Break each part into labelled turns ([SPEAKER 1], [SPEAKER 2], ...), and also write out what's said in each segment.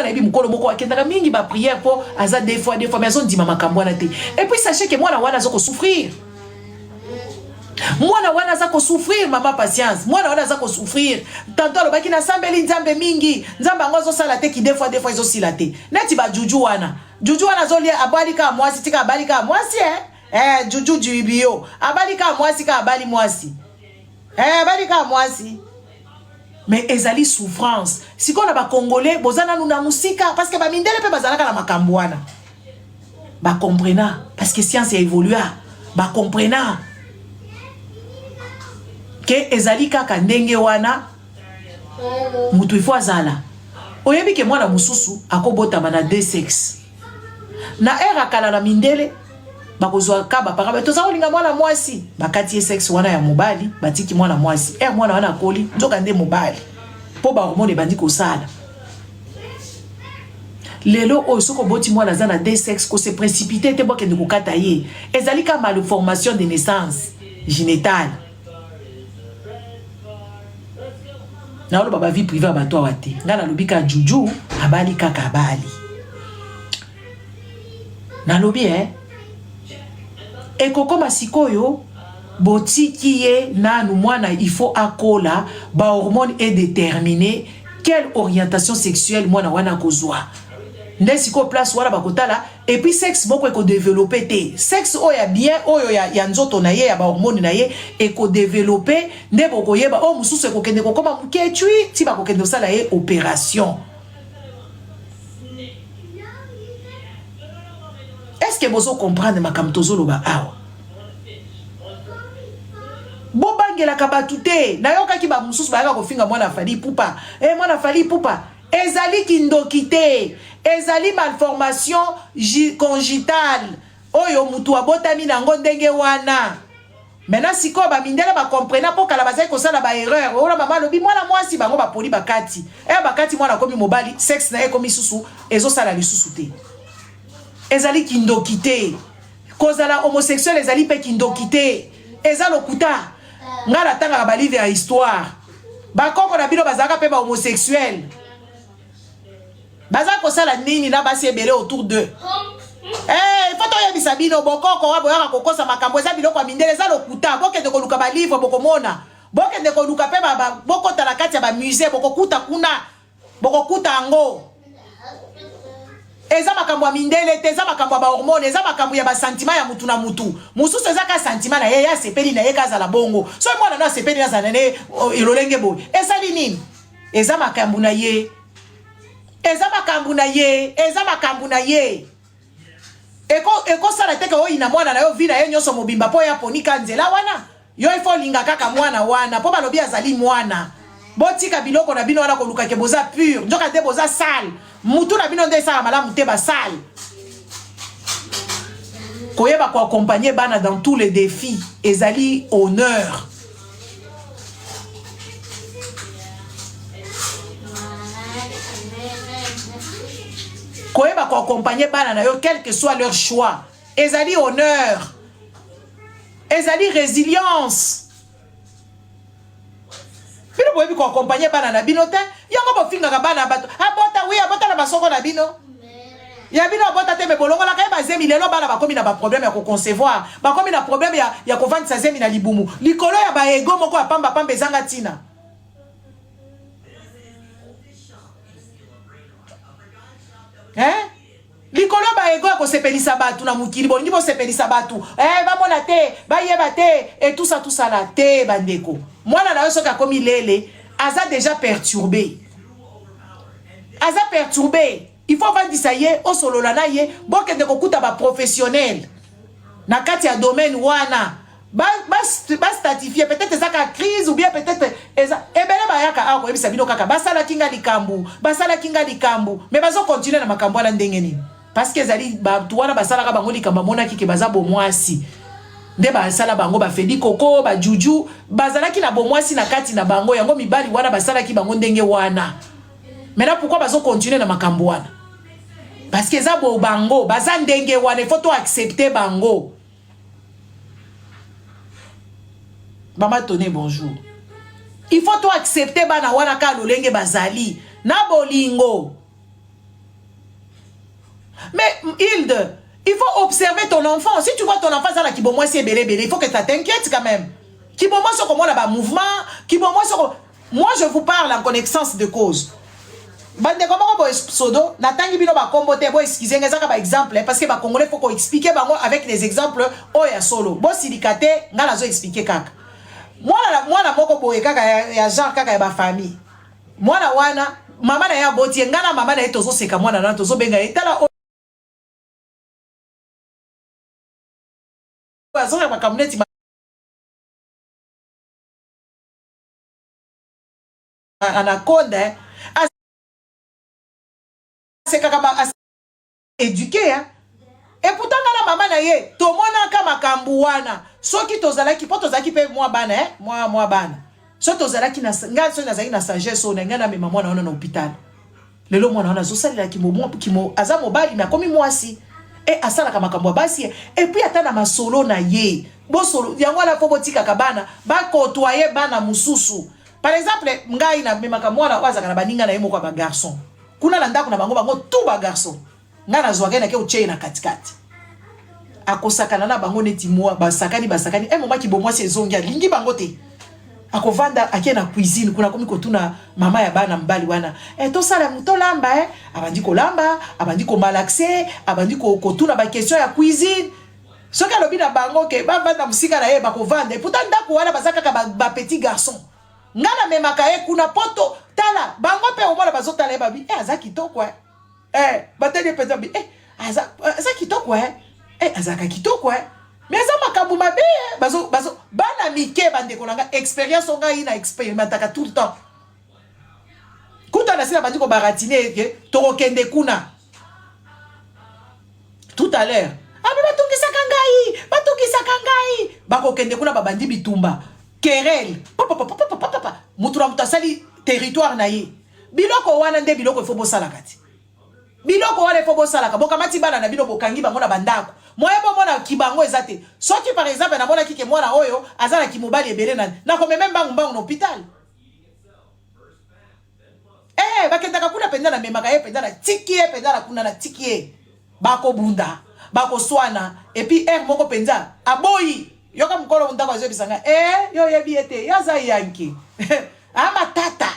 [SPEAKER 1] nayebi mokolo moko akendaka mingi ba prière po aza deux fois deux fois mais azondima makambo wana te et puis sachez que mwana wana aza kosouffrir mwana wana aza kosouffrir mama patience mwana wana aza kosouffrir tanto alobaki nasambeli nzambe mingi nzambe yango azosala te kide fois defoi ezosila te neti bajuju wana juju wana azolia abali kaka mwasi tika abali kaka mwasi e eh, juju juibio abali kaka mwasi kaka abali mwasi e eh, abali kaka mwasi mais ezali souffrance sikoyo na bacongolais boza nanu na mosika parce que bamindele mpe bazalaka na makambo wana bacomprena parce que science ya évolua bacomprena ke ezali kaka ndenge wana moto ifo azala oyebi ke mwana mosusu akobotama na deux sexe na ere akala na mindele bakozwa ka bapaka bato toza kolinga mwana mwasi bakati ye sexe wana ya mobali batiki mwana mwasi er mwana wana akoli nzoka nde mobali mpo bahormone ebandi kosala lelo oyo soki oboti mwana aza na de sexe kose précipité te bokende kokata ye ezali ka malformation de naissance génitale naoloba bavie privé ya bato awa te ngai nalobi ka juju abali kaka abali nalobi e eh, ekokoma sikoyo botiki ye nanu mwana il faut akola ba hormone est déterminé quelle orientation sexuelle mwana wana akozwa nde sikoyo place wana bakotala epuis sexe moko ekodevelope te sexe oyo ya bien oyo ya, ya nzoto na ye ya bahormone na ye ekodevelope nde bokoyeba oyo oh, mosusu ekokende kokoma mokecui ti bakokende kosala ye operation Est-ce que bozo comprendre makambo tozoloba awa? bobangelaka bato te nayokaki bamosusu bayaka kofinga mwana fali pupa e eh, mwana fali pupa ezali kindoki te ezali malformation congitale oyo motu abotami na yango ndenge wana Maintenant sikoyo ba mindele ba comprena po kala bazali kosala ba erreur. Ola mama lobi mwana mwasi bango ba poli bakati. Eh bakati mwana komi mobali sex na ye komi susu ezo sala lisusu te. Ezali kindoki te. Kozala homosexuel ezali pe kindoki te. Eza lokuta. Nga na tanga ba livre ya histoire. Ba koko na bino bazalaka pe ba homosexuel. baza kosala nini na basi ebele autour d'eux Hey, eh, faut toyebisa bino bokoko wa boyaka kokosa makambo eza biloko ya mindele eza lokuta bokende koluka balivre bokomona bokende koluka mpe bokota na kati ya bamusée bokokuta kuna bokokuta yango eza makambo ya mindele te eza makambo ya bahormone eza makambo ya basantima ya mutu na mutu mosusu eza ka santima na ye ye asepeli na ye kazala bongo soki mwana no asepeli nazala na ye elolenge boye esali nini eza makambu na ye eza makambu na ye eza makambu na ye ekosala te ke oyina mwana na yo vi na ye nyonso mobimba mpo ye aponi ka nzela wana yo ifo olinga kaka mwana wana mpo balobi azali mwana botika biloko na bino wana kolukake boza pure nzoka nde boza sale mutu na bino nde esala malamu te basale koyeba koaccompagne bana dans tous les défis ezali honneur koyeba koaccompagne bana na yo quel que soit leur choix ezali honneur ezali résilience bino boyebi koakompanye bana na bino te yango bofingaka bana ya bato abota wi abota na basoko na bino ya bino abota te me bolongolaka ye bazemi lelo bana bakomi na baproblème ya koconcevoir bakomi na problème ya, ya kovandisa zemi na libumu likolo ya baego moko ya pambapamba ezanga ntina eh? likolo ba ego ya kosepelisa bato na mokili bolingi bosepelisa bato eh, bamona te bayeba te etusa tusala te bandeko mwana na yo soki akomi lele aza deja perturbe aza perturbe il faut vandisa ye osolola na ye bokende kokuta baprofessionnel na kati ya domaine wana ba ba ba statifier peut-être eza ka crise ou bien peut-être eza ebele bayaka awa koyebisa bino kaka basalaki nga likambo basalaki nga likambo mais bazo continuer na makambo wana ndenge nini parce que ezali bato wana basalaka bango likambo amonaki ke baza bomwasi nde basala bango bafedi koko bajuju bazalaki na bomwasi na kati na bango yango mibali wana basalaki bango ndenge wana maintenant pourquoi bazo continuer na makambo wana parce que eza bo bango baza ndenge wana il faut to accepter bango Mama Tone bonjour. Il faut to accepter bana wana ka lolenge bazali na bolingo. Mais Hilde, il faut observer ton enfant. Si tu vois ton enfant zala kibomwasi ebele ebele, il faut que ça t'inquiète quand même. Kibomwasi okomona ba mouvement, kibomwasi okomona Moi je vous parle en connaissance de cause. Bandeko moko boye pseudo natangi bino bakombo te bo excuse nga ezaka ba exemple parce que ba congolais faut ko expliquer bango avec des exemples oyo oh, ya solo. Bo silika te nga nazo expliquer kaka. Mwana mwana moko boye kaka ya, ya genre kaka ya ba famille. Mwana wana mama na ye aboti ye nga na mama na ye tozoseka mwana na tozobenga ye tala oyo azonga makambo neti na code asekaka ba eduke ya eputa nga na mama na ye tomonaka makambo wana soki tozalaki mpo tozalaki mpe mwa bana eh? mwa mwa bana so tozalaki ngai soki nazalaki na sagesse oyo na ngai namema mwana wana na hopitale lelo mwana wana azosalela kimomo kimo aza mobali me akomi mwasi e asalaka makambo ya basi epuis ata na masolo na ye bosolo yango wana mpo botikaka bana bakotoye bana mosusu par exemple ngai namemaka mwana oyo azalaka na baninga na ye moko ya bagarçon kuna na ndako na bango bango tout bagarçon nga na zwaka na ke otie na kati kati akosakana na bango neti mwa basakani basakani e moma kibomwasi ezongi alingi bango te akovanda ake na cuisine kuna akomi kotuna mama ya bana mobali wana e tosala tolamba e abandi kolamba abandi komalaxe abandi kotuna bakestion ya cuisine soki alobi na bango ke bavanda mosika na ye bakovanda eputa ndako wana baza kaka bapetit ba garçon ngai namemaka ye kuna poto tala bango mpe omona bazotala ye babi e aza kitoko e eh batali penza bi eh aza aza kitoko eh eh azaka kitoko eh mais aza makambo mabe eh bazo bazo bana mike bandeko na nga expérience o ngai na experimentaka tout le temps kuta na sila bandi kobaratine eke tokokende kuna tout à l'heure abi ah, batungisaka ngai batungisaka ngai bakokende kuna babandi bitumba kerel papapapapapapa moto na moto asali territoire na ye Biloko wana nde biloko ifo bosalaka ti. Biloko wana ifo bosalaka. Bokamati bana na bino bokangi bango na bandako. Moye bomona kibango eza te. Soki par exemple namonaki ke mwana oyo aza na kimobali ebele na nakomeme mbangu mbangu na hôpital. Eh bakendaka kuna penza na memaka ye penza na tiki ye penza na kuna na tiki ye. Bako bunda, bako suana et puis heure moko penza aboyi. Yoka mukolo ndako azo yebisa nga eh yo oyebi ye te, ye aza yanki ah matata.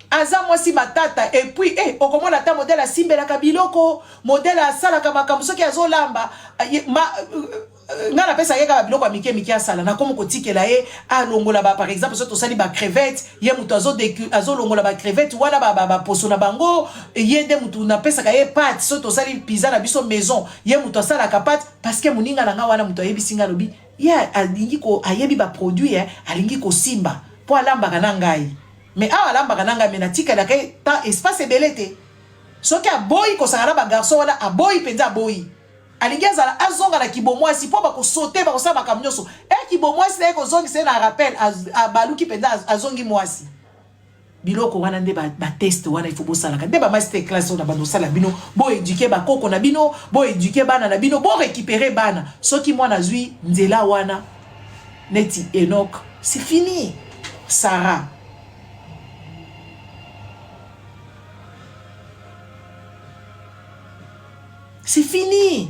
[SPEAKER 1] Aza mwasi matata et puis eh okomona ata modèle asimbelaka biloko, modèle asalaka makambo soki azo lamba ma, Euh, nga napesa ye kaka biloko ya mike mike asala nakomi kotikela ye alongola ba par exemple soki tosali bacrevete ye moto azolongola bacrevete wana baposo na bango ye nde motu napesaka ye pate soki tosali piza na biso maison ye moto asalaka pate parceke moninga na nga wana moto ayebisi nga alobi ye alingi ko ayebi baproduit eh, alingi kosimba mpo alambaka na ngai mais awa alambaka na ngai me natikelaka ye temps espace ebele te soki aboyi kosaka na bagarçon wana aboyi mpenza aboyi alingi azala azonga na kibomwasi mpo bakosote bakosala makambo nyonso e kibomwasi na ye kozongisa ye na rappel abaluki mpenza azongi mwasi biloko wana nde bateste wana ifo bosalaka nde bamaster classe oyo na bando osala bino boeduke bakoko na bino boeduke bana na bino borekipere bana soki mwana azwi nzela wana neti enok c'est fini sarah C'est fini.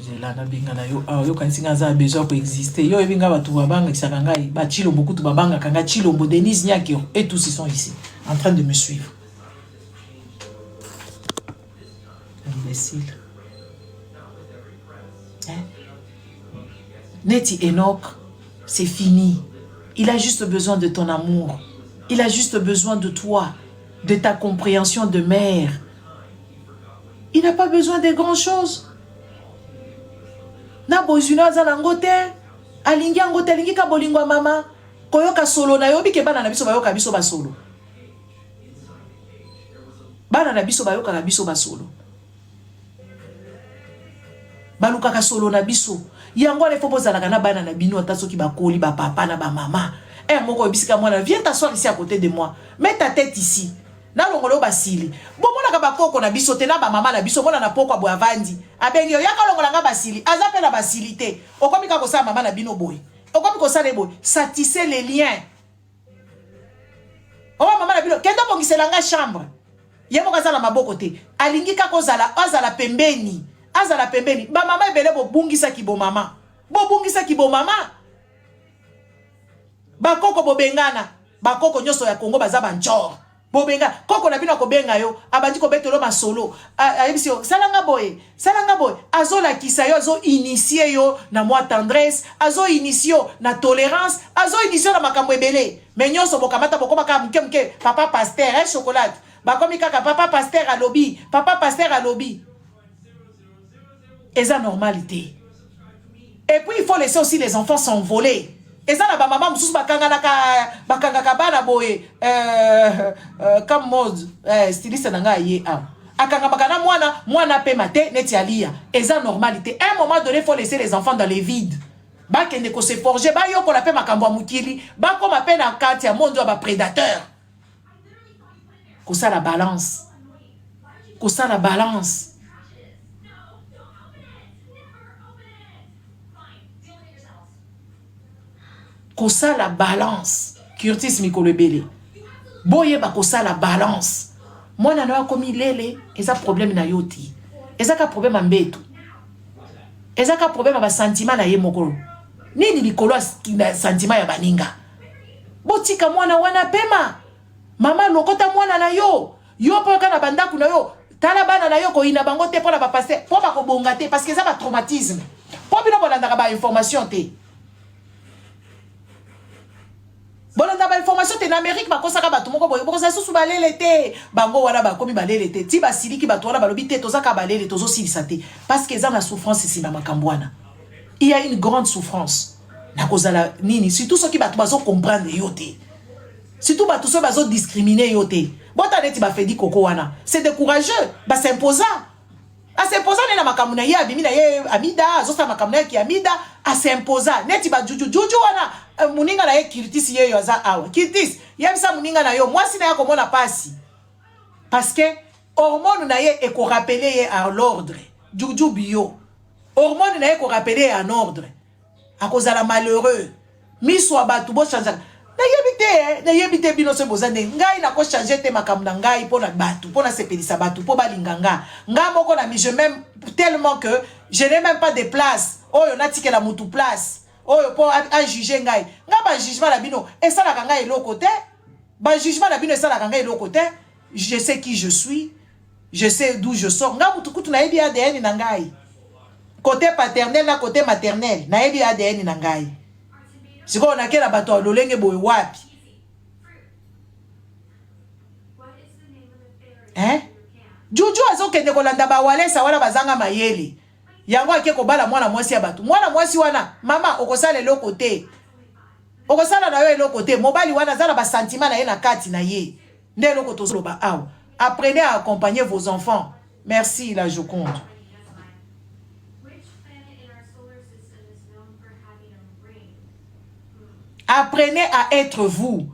[SPEAKER 1] zela nabengana yo awa ah, yokanisi ngai aza besoin koexiste yo oyebi ngai bato babangakisaka ngai bachilombo kutu babangaka ngai chilombo denise nyakio et tous ils sont ici en train de me suivre imbecile hein? neti Enoch c'est fini il a juste besoin de ton amour il a juste besoin de toi de ta compréhension de mère il n'a pas besoin de grand chose na bozwi na aza nango te alingi yango te alingi ka bolingo ya mama koyoka solo na yo bike bana na biso bayoka biso basolo Bana na biso bayokaka biso masolo, balukaka solo na biso. Yango wana ifo bozalaka na bana na bino, ata soki bakoli ba papa na ba mama. Eh moko oyebisika mwana, viens t'asseoir ici à côté de moi, mets ta tête ici nalongolo basili bomonaka bakoko na biso te na bamama na biso mona na poko aboye avandi abengi yo yaka olongola nga basili aza mpe na basili te okomi kaka kosala mama na bino boye okomi kosala ye boye satise le lien oyo mama na bino kende obongisela nga chambre ye moko aza na maboko te alingi kaka ozala azala pembeni azala pembeni bamama ebele bobungisaki bomama bobungisaki bomama bakoko bobengana bakoko nyonso ya kongo baza banjor bobenga koko na bino akobenga yo abandi kobetelo masolo ayebisi yo sala nga boye sala nga boye azolakisa yo azoinitie yo na mwa tendresse azoinitie yo na tolérance azoinitie yo na makambo ebele me nyonso bokamata bokoma kaka moke moke papa paster e eh, chocolate bakomi kaka papa paster alobi papa paster alobi eza normal te et puis il faut laisser aussi les enfants s'envoler eza na bamama mosusu bakanganaka bakangaka bana boye euh, euh, comme mode euh, styliste na ngai aye awa akangamaka na mwana mwana apema te neti aliya eza normal te un moment donné faut laisser les enfants dans les vides bakende ko se forger bayokola mpe makambo ya mokili bakoma mpe na kati ya monde ya baprédateur kosala balance kosala balance kosala balance curtis mikolo ebele boyeba kosala balance mwana na yo akomi lele eza problème na yo te eza ka problème ya mbetu eza ka problème ya basantima na ye moko nini likolo ya santima ya baninga botika mwana wana pema mama lokota mwana na yo yo mpo kaka na bandako na yo tala bana na yo koyina bango te mpo na bapaster mpo bakobonga te parce que eza batraumatisme mpo bino bolandaka bainformation te bolanda bainformation te na amérique bakosaka bato moko boye bokozala susu balele te bango wana bakomi balele te ti basiliki bato wana balobi te tozaka balele tozosilisa te parce que eza na souffrance nsima makambo wana il y a une grande souffrance nakozala nini surtout soki bato bazo comprendre yo te surtout bato soki bazo discrimine yo te bota neti bafedi koko wana c'est décourageux basimposa asimposa nde na makambo na ye abimi na ye amida azosala makambo na ye ki amida asimposa neti bajujujuju wana eh, moninga na ye kirtis yeyo aza awa kirtis yebisa moninga na yo mwasi na ye akomona mpasi parce que hormone na ye ekorapele ye à l'ordre juju bio hormone na ye ekorapele ye en ordre akozala malheureux miso ya bato bochangeaka nayebi te eh, nayebi te bino soki boza nde ngai nakochange te makambo na ngai mpo na bato mpo nasepelisa bato mpo balinga nga nga moko na mise même tellement que je n'ai même pas de place oyo natikela motu place oyo mpo ajuge ngai nga bajugement na bino esalaka ngai eloko te bajugement na bino esalaka ngai eloko te je sais qui je suis je sais d'où je sors nga mutu kutu nayebi ADN na ngai côté paternel na côté maternel nayebi ADN na ngai sikoyo nakela bato ya lolenge boye wapi eh? juju azokende kolanda bawalesa wana bazanga mayele yango ake kobala mwana mwasi ya bato mwana mwasi wana mama okosala eloko te okosala na yo eloko te mobali wana aza na basantima na ye na kati na ye nde eloko tozoloba awa apprenez à accompagner vos enfants merci la joconde apprenez à être vous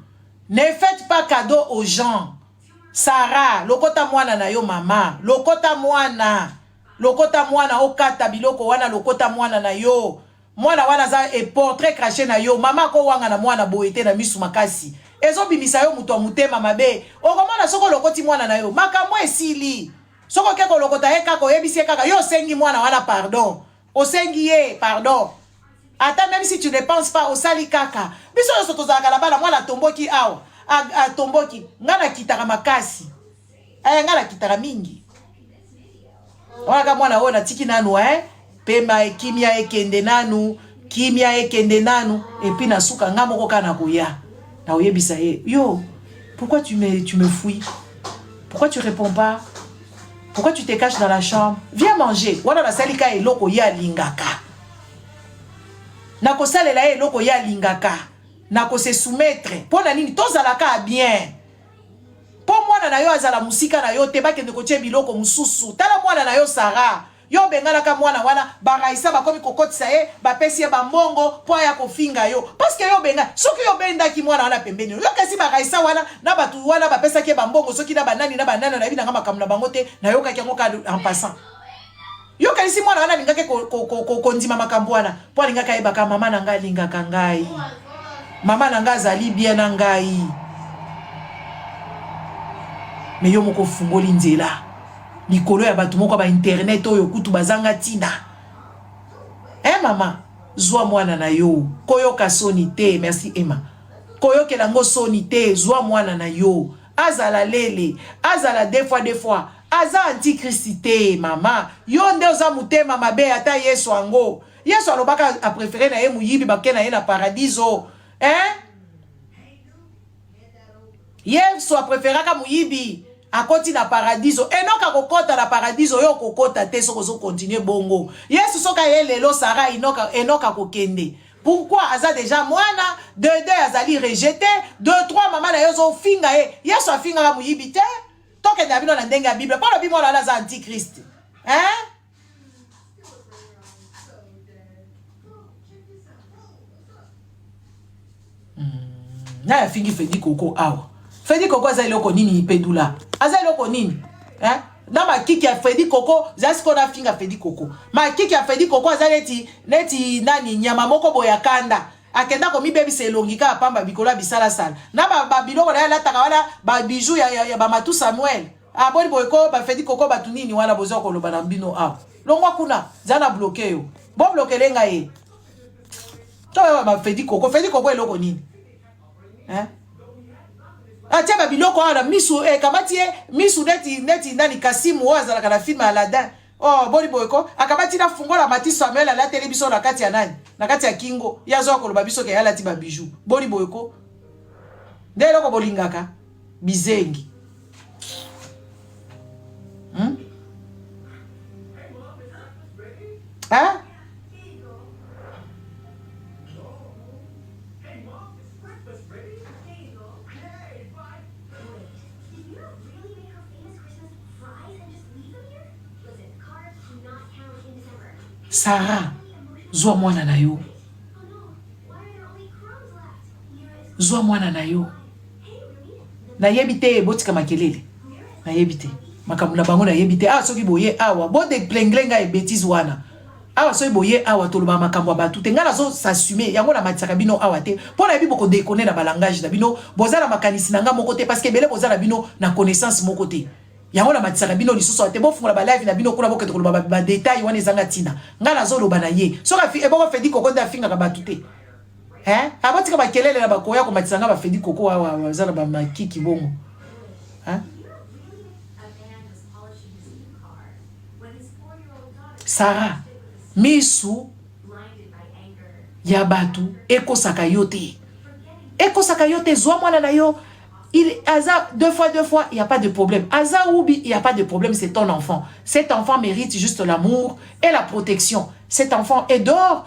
[SPEAKER 1] ne faites pas cadeau aux gens sara lokota mwana na yo mama lokota mwana lokota mwana okata biloko wana lokota mwana na yo Mwana wana aza e portrait crache na yo. Mama ako wangana mwana boye te na misu makasi. Ezo bimisa yo moto ya motema mabe. Okomona soko olokoti mwana na yo. Makambo esili. Soko oke kolokota ye kaka oyebisi ye kaka yo osengi mwana wana pardon. Osengi ye pardon. Ata même si tu ne penses pas osali kaka. Biso nyonso tozalaka na bana mwana atomboki awa. Atomboki. Nga na kitaka makasi. aya nga nakitaka mingi wanaka mwana oyo natiki nanu eh? pema ekimia ekende nanu kimia ekende nanu epi na suka nga moko kaka nakoya nakoyebisa ye yo pourquoi tu me, tu me fouilles pourquoi tu réponds pas pourquoi tu te caches dans la chambre viens manger wana nasali ka eloko ye alingaka nakosalela ye eloko ye alingaka nakose soumettre mpo na nini tozalaka bien mpo mwana na yo azala mosika na yo te bakende kotye biloko mosusu tala mwana na yo sara yo obenganaka mwana wana baraisa bakomi kokotisa ye bapesi ye bambongo mpo aya kofinga yo parceke yo obenga soki yo obendaki mwana wana pembeni yo kasi baraisa wana na bato wana bapesaki ye bambongo soki na banani na banani nayebi nanga makambo na bango te nayokaki yango kaka en passant Yo kanisi mwana wana alingaki kondima makambo wana mpo alingaki ayebaka mama na ngai alingaka ngai mama na ngai azali bien na ngai me yo moko ofungoli nzela likolo ya bato moko ya bainternet oyo kutu bazanga ntina e eh, mama zwa mwana na yo koyoka soni te merci emma koyokela yango soni te zwa mwana na yo azala lele azala de fois de fois aza antichrist te mama yo nde oza motema mabe ata yesu ango yesu alobaka aprefere na ye moyibi bake na ye na paradiso hein? yesu apreferaka moyibi akoti na paradiso enoka akokota na paradiso yo okokota te soki ozokontinue bongo yesu soki aye lelo sara enoka akokende Pourquoi aza deja mwana de deux azali rejete de trois mama na ye ozofinga ye yesu afingaka moyibi te tokende ya bino na ndenge ya bible mpo lobi mwana wana aza antichrist hein? naye afingi fedi koko awa fedi koko aza eloko nini ipedula aza eloko nini eh? na makiki ya fredi koko za sikoyo nafinga fredi koko makiki ya fredi koko aza neti neti nani nyama moko boye ya kanda akenda komibebisa elongi kaka pamba bikolo ya bisalasala na babiloko na ye alataka wana babiju ya, ya, ya bamatu samuel aboni ah, boye ko bafedi koko bato nini wana boza koloba na bino awa ah. longwa kuna za na bloke yo boblokele ngai ye toyeba bafedi koko fedi koko eloko nini hein? atia babiloko awa na misu ekamati eh, ye misu neti neti nani kasimu oyo azalaka na filme aladin oh boni boye ko akabati na fungola mati samuel alateli biso na kati ya nani na kati ya kingo ye azoya koloba biso ke alati babiju boni boye ko nde eloko bolingaka bizengi hmm? hein? Sarah, zwa mwana na yo, zwa mwana na yo. nayebi te botika makelele nayebi te makambo na bango nayebi te awa soki boye awa bodeplengre ngai ebetise wana awa soki boye awa tolobaka makambo ya bato te ngai nazo s'assume yango namatisaka bino awa te mpo nayebi bokodekone na balangage na bino boza na makanisi na ngai moko te parce que ebele boza na bino na connaissance moko te yango namatisaka bino lisusu awa te bofungola balive na bino kuna bokete koloba badetail wana ezanga ntina ngai nazoloba na ye soki eboko fedi koko nde afingaka bato te hein aba tika ba kelele na ba koya ko matisa nga ba fedi koko awa baza na ba makiki bongo hein Sarah misu ya batu ekosaka yo te ekosaka yo te zwa mwana na yo il aza deux fois deux fois il y a pas de problème aza ubi il y a pas de problème c'est ton enfant cet enfant mérite juste l'amour et la protection cet enfant est d'or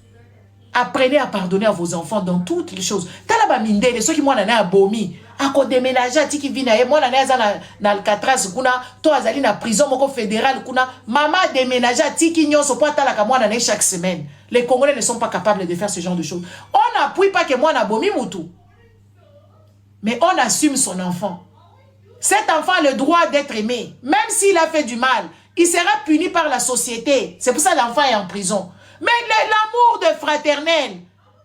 [SPEAKER 1] apprenez à pardonner à vos enfants dans toutes les choses tala bamindele soki mwana naye abomi akodemenage atiki vi na ye mwana naye aza na, na alcatras kuna to azali na prison moko fédéral kuna mama ademenage atiki nyonso mpo atalaka mwana naye chaque semaine les congolais ne sont pas capables de faire ce genre de choses on n'appuie pas que mwana abomi mutu Mais on assume son enfant. Cet enfant a le droit d'être aimé. Même s'il a fait du mal, il sera puni par la société. C'est pour ça l'enfant est en prison. Mais l'amour de fraternel,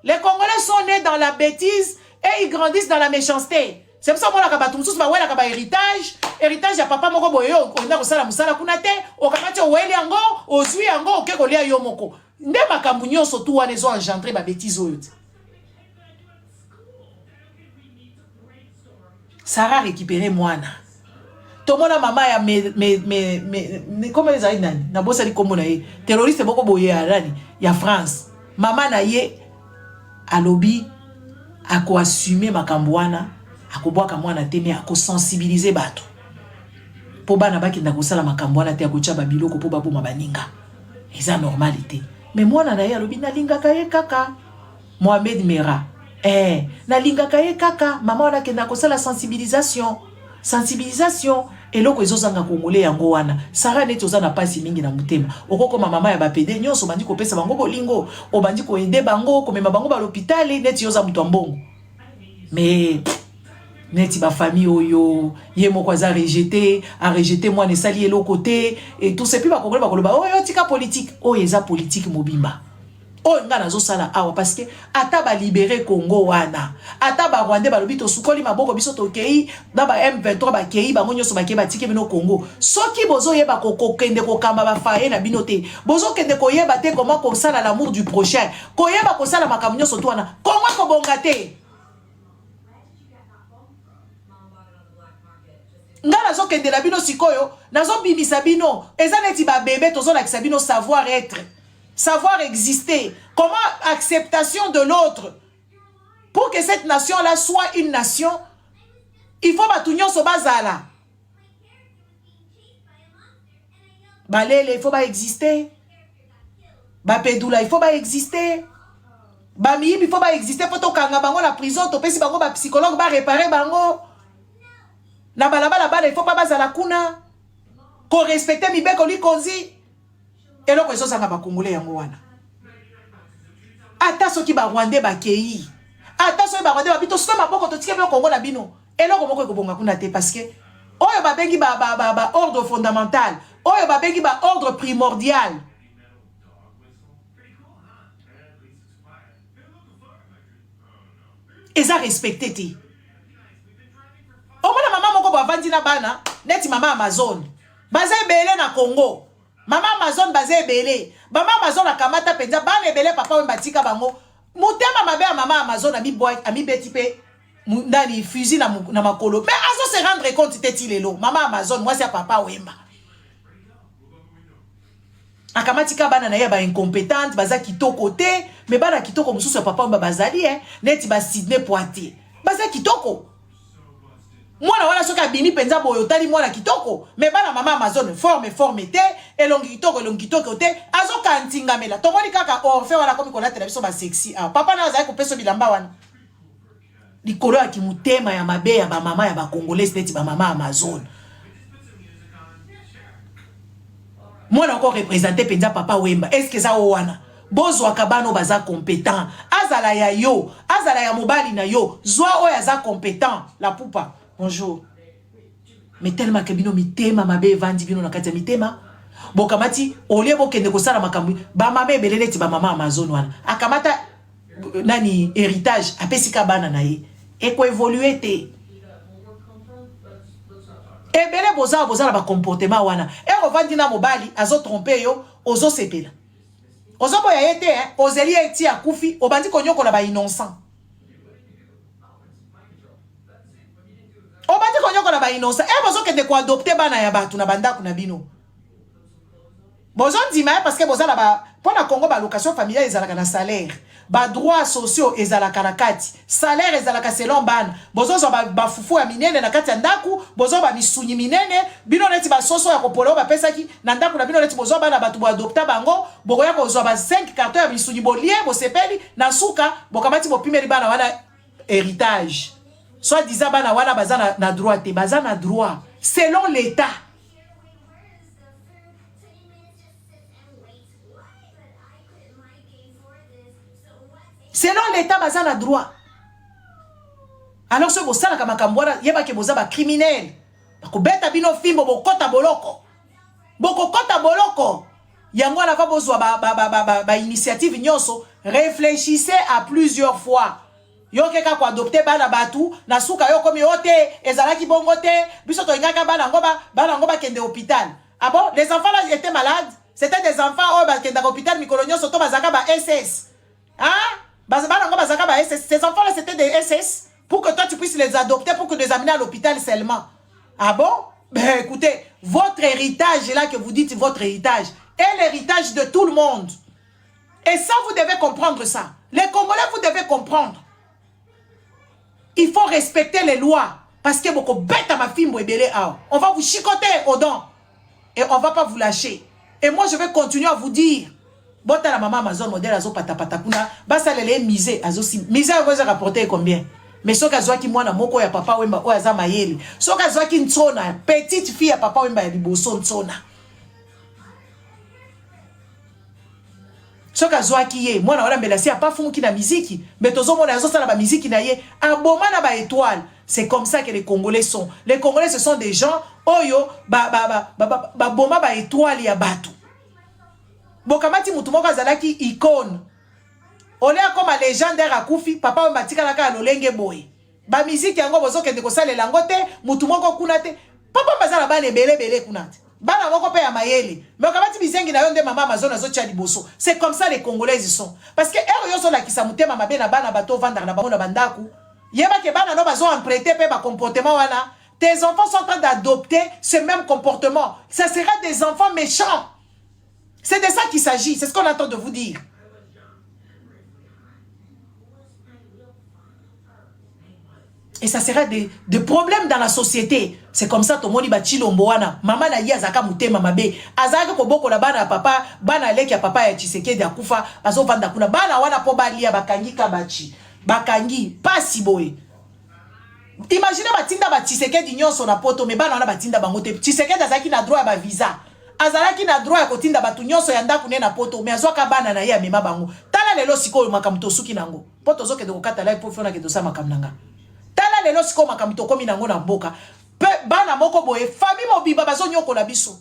[SPEAKER 1] les Congolais sont nés dans la bêtise et ils grandissent dans la méchanceté. C'est pour ça que je bato mosusu bawelaka ba héritage héritage ya papa moko boye olinga kosala mosala kuna te okamati oweli yango ozwi yango oke kolia yo moko nde makambo nyonso tu wana ezo engendre babétise oyo te Sarah récupérer mwana tomona mama ya me, me, me, me, me, koma ezali nani nabosani nkombo na ye terroriste moko boye ya nani ya france mama na ye alobi akoassume makambo wana akobwaka mwana te me akosensibilize bato mpo bana bakenda kosala makambo wana te akotya babiloko mpo baboma baninga eza normali te me mwana na ye alobi nalingaka ye kaka Mohamed Merah eh na lingaka ye kaka mama wana akenda kosala sensibilisation sensibilisation eloko ezozanga congolais yango wana Sarah neti oza na pasi mingi na motema okokoma mama ya bapede nyonso obandi kopesa bango bolingo obandi koede bango komema bango balopitale neti yo oza moto ya mbongo mais neti bafamille oyo ye moko aza rejete arejete mwana esali eloko te et tout sepi bakongoli bakoloba oyo oh, tika politike oyo eza politike mobimba oyo nga nazosala awa parce que ata ba libere Congo wana ata ba Rwandais balobi tosukoli maboko biso tokei na ba M23 bakei bango nyonso bakei batiki bino Congo soki bozoyeba kokokende kokamba bafaye na bino te bozokende koyeba te koma kosala l'amour du prochain koyeba kosala makambo nyonso to wana Congo ekobonga te ngai nazokendela bino sikoyo nazobimisa bino eza neti babebe tozolakisa bino savoir etre Savoir exister. Comment acceptation de l'autre. Pour que cette nation-là soit une nation, il faut batu nyonso bazala. Balele, il faut ba exister. Bapedula, il faut ba exister. Bamiyibi, il faut ba exister. Faut tokanga bango na prison, topesi bango ba psychologue, ba réparer bango. Na balabala bala, il faut pas bazala kuna. Ko respecter mibeko likonzi. eloko ezozanga ba congolais yango wana ata soki ba rwandais bakei ata soki ba rwandais babi tosika maboko totike bino kongo na bino eloko moko ekobonga kuna te parce que oyo babengi ba, ba, ba, ba ordre fondamental oyo babengi ba ordre primordial eza respecte te omona mama moko boavandi na bana neti mama amazone baza ebele na congo Mama Amazon baza ebele. Mama Amazon akamata penza bana ebele papa wemba atika bango. Mutema mabe ya mama Amazon ami boy ami beti pe ndani fusil na, na makolo. Mais azo se rendre compte te ti lelo. Mama Amazon mwasi ya papa wemba. akamati ka bana na ye ba incompetente baza kitoko te me bana kitoko mosusu ya papa wemba bazali eh, neti ba sydney poitier baza kitoko mwana wana soki abimi mpenza boye otali mwana kitoko me bana mama amazone forme forme te elongi kitoko elongi kitoko te azokaa ntingamela tomoni kaka orfe wana akomi kolatela biso basexi a ah, papa nayo azali kopesa bilamba wana likolo ya kimotema ya mabe ya bamama ya bacongolais neti bamama amazone mwana oko represente mpenza papa wemba eske eza o wana Bozwaka bana oyo baza competent, azala ya yo, azala ya mobali na yo, zwa oyo aza competent. La pupa, bonjour. Mais tellement que bino mitema mabe evandi bino na kati ya mitema. Bokamati olie bokende kosala makambo ba mama ebele neti ba mama Amazon wana. Akamata nani héritage apesi ka bana na ye. Eko évoluer te. ebele boza boza na ba comportement wana ero vandi na mobali azo trompe yo ozo sepela ozoboya ye te eh? ozeli ye ti akufi obandi konyokola ba innocent obandi konyokola ba innocent e eh, bozokende koadopte bana ya bato na bandako na bino bozondima ye eh, parce que boza na ba mpo na congo balocation familiale ezalaka na salaire Ba droits sociaux ezalaka na kati. Salaire ezalaka selon bana. Bozozwa ba, ba fufu ya minene na kati ya ndaku, bozwa ba misunyi minene, bino neti ba soso ya kopola oyo bapesaki na ndaku na bino neti bozwa bana batu bo adopta bango, bokoya kozwa ba cinq cartons ya misunyi bolie bosepeli, na suka bokamati bopimeli bana wana heritage. Soit disant bana wana baza na, na droit te, baza na droit selon l'etat. selon l'état baza na droit alors soki bosalaka makambo wana yebake boza bacriminele bakobeta bino fimbo bokota boloko bokokota boloko yango wana va bozwa bainitiative ba, ba, ba, ba nyonso réfléchissez à plusieurs fois Yo oke kaka ko adopter bana batu, na suka yo okomi oh te, ezalaki bongo te, biso tolingaka bana yango ba bana yango bakende hopital. Ah bon, les enfants là étaient malades? C'était des enfants oyo bakendaka hopital mikolo nyonso to bazalaka ba SS? Hein? Bas- Bana yango bazalaka ba SS. Ces enfants là c'était des SS pour que toi tu puisses les adopter pour que les amener à l'hôpital seulement. Ah bon? Ben écoutez, votre héritage là que vous dites votre héritage est l'héritage de tout le monde. Et ça, vous devez comprendre ça. Les Congolais, vous devez comprendre. Il faut respecter les lois. Parce que beaucoup bête à ma fille, on va vous chicoter aux dents. Et on ne va pas vous lâcher. Et moi, je vais continuer à vous dire. Bota la maman Amazon modèle azo pata pata kuna basa lele misé azo si misé azo rapporter combien mais soki azwaki mwana moko ya papa wemba oyo aza mayele soki azwaki nsona petite fille ya papa wemba ya liboso nsona soki azwaki ye mwana wana mbela si apafumuki na miziki mbe tozomona azosala bamiziki na ye aboma na baetoile c'est comme ça que les congolais sont les congolais ce sont des gens oyo baboma baetoile ya bato bokamati motu moko azalaki icone ole akoma legendaire akufi papa oyo batikalaka ya lolenge boye Ba musique yango bozo kende ko salela yango te, mutu moko kuna te. Papa baza na bana ebele ebele kuna te. Bana moko pe ya mayele. Mais okabati bizengi na yo nde mama Amazon azo tia liboso. C'est comme ça les Congolais ils sont. Parce que heure yo zo lakisa mutema mabe na bana bato vandaka na bango na bandaku. Yeba ke bana no bazo emprunter pe ba comportement wana. Tes enfants sont en train d'adopter ce même comportement. Ça sera des enfants méchants. C'est de ça qu'il s'agit, c'est ce qu'on attend de vous dire. Et ça serait des, des problèmes dans la société. C'est comme ça, tomoni ba chilombo wana. Mama na ye azaka mutema mabe. Azaka koboko la bana papa, bana leki ya papa ya Tshisekedi akufa, bazo vanda kuna. Bana wana po balia bakangi kabachi. Bakangi pasi boye. Imagine batinda ba Tshisekedi nyonso na poto me bana wana batinda bango te. Tshisekedi azalaki na droit ya ba visa. Azalaki na droit ya kotinda bato nyonso ya ndako ne na poto me azwaka bana na ye amema bango. Tala lelo sikoyo makambo tosuki na yango. Mpo tozokende kokata live mpo fiona ke tosala makambo na nga. Tala lelo sikoyo makambo tokomi na yango na mboka. Pe bana moko boye famille mobimba bazonyokola biso.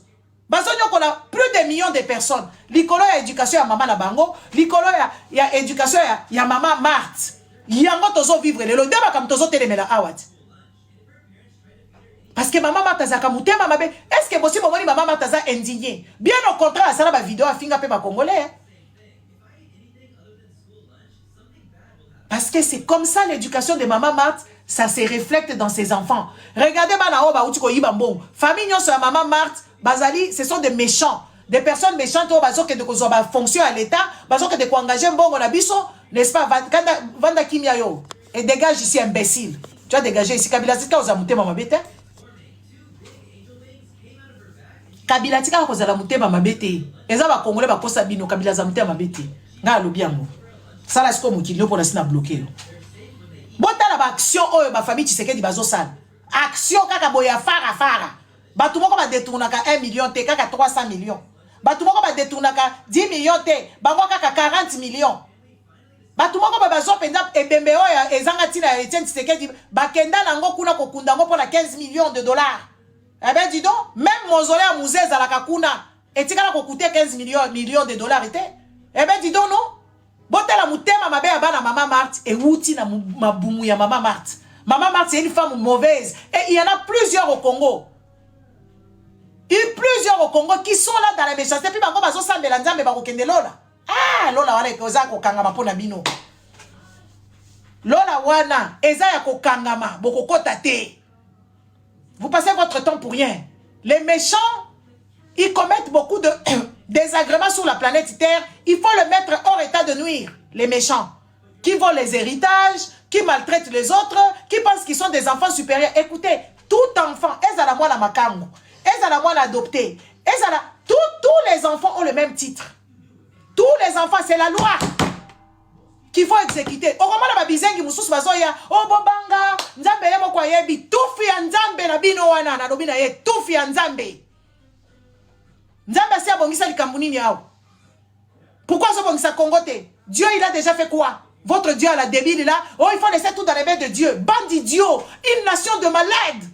[SPEAKER 1] bazonyokola plus de millions de personnes likolo ya éducation ya mama na bango likolo ya, ya éducation ya, ya mama marte yango tozovivre lelo nde makambo tozotelemela awa ti parce que mama marte azalaka motema mabe est ce que bosi bomoni mama marte aza indigne bien au contraire asala bavideo afinga mpe bacongolais Parce que c'est comme ça l'éducation de Maman Marthe, ça se reflète dans ses enfants. Regardez bana oyo bauti koyiba mbongo. Famille nyonso ya Maman Marthe, bazali, ce sont des méchants. Des personnes méchantes oyo bazokende kozwa ba fonction ya l'État, bazokende koengage mbongo na biso, n'est-ce pas? Vanda, vanda kimia yo. Et dégage ici, imbécile. Tu as dégagé ici. Kabila Zika oza mutema mabe te. kabila atikaka kozala motema mabe te eza bakongole bakosa bino kabila aza motema mabe te ngai alobi yango sala sikoyo mokili yo mpona si na bloke yo botala baaction oyo bafamille tshisekedi bazosala action kaka boye ya farafara bato moko badetournaka 1 million te kaka 300 million bato moko badetournaka 10 million te bango kaka 40 million bato moko ba bazwa mpenza ebembe oyo ezanga ntina ya etienne tshisekedi bakenda na yango kuna kokunda yango mpo na 15 millions de dollars ebe eh didon meme mozole ya muze ezalaka kuna etikala kokute 15 millions million de dollars te ebe eh didon no botala motema mabe ya bana mama marte ewuti na mabumu ya mama marte mama marte c'est une femme mauvaise et il y en a plusieurs au congo il plusieurs au congo qui sont là dans la méchanceté mpe bango bazosambela nzambe bakokende lola ah lola wana epe oza kokangama mpo na bino lola wana eza ya kokangama bokokota te vous passez votre temps pour rien les méchants ils commettent beaucoup de désagréments sur la planète terre il faut le mettre hors état de nuire les méchants qui volent les héritages qui maltraitent les autres qui pensent qu'ils sont des enfants supérieurs écoutez tout enfant ezala mwana makango ezala mwana adopté ezala tous les enfants ont le même titre tous les enfants c'est la loi qu'il faut exécuter okomona babizengi mosusu bazoya o oh, bobanga nzambe ye moko ayebi tufi ya nzambe na bino wana nalobi na ye tufi ya nzambe nzambe asi abongisa likambo nini awa pourquoi azobongisa congo te dieu il a déjà fait quoi votre dieu à la débile là oh il faut laisser tout dans les mains de dieu bande idiot une nation de malades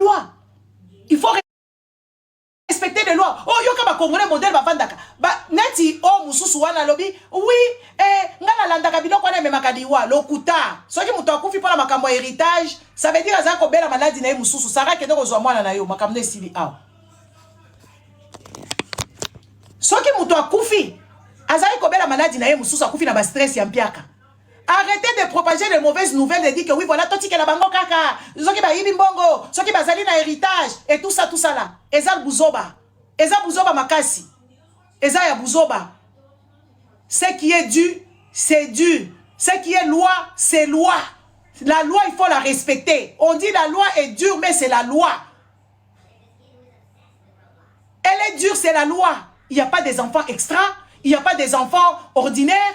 [SPEAKER 1] loi il faut respecter les lois oh yoka ba congolais modèle bavandaka ba neti o oh, mosusu wana alobi oui eh, nga nalandaka biloko wana ememaka liwa lokuta soki moto akufi mpo na makambo ya héritage ça veut dire aza kobela maladi na ye mosusu sara kende kozwa mwana na yo makambo na esili awa soki moto akufi azali kobela maladi na ye mosusu akufi na bastress ya mpiaka Arrêtez de propager les mauvaises nouvelles et dire que oui voilà toi tikela bango kaka soki bayibi mbongo soki bazali na héritage et tout ça tout ça là eza buzoba eza buzoba makasi eza ya buzoba ce qui est dû c'est dû ce qui est loi c'est loi la loi il faut la respecter on dit la loi est dure mais c'est la loi elle est dure c'est la loi il n'y a pas des enfants extra il n'y a pas des enfants ordinaires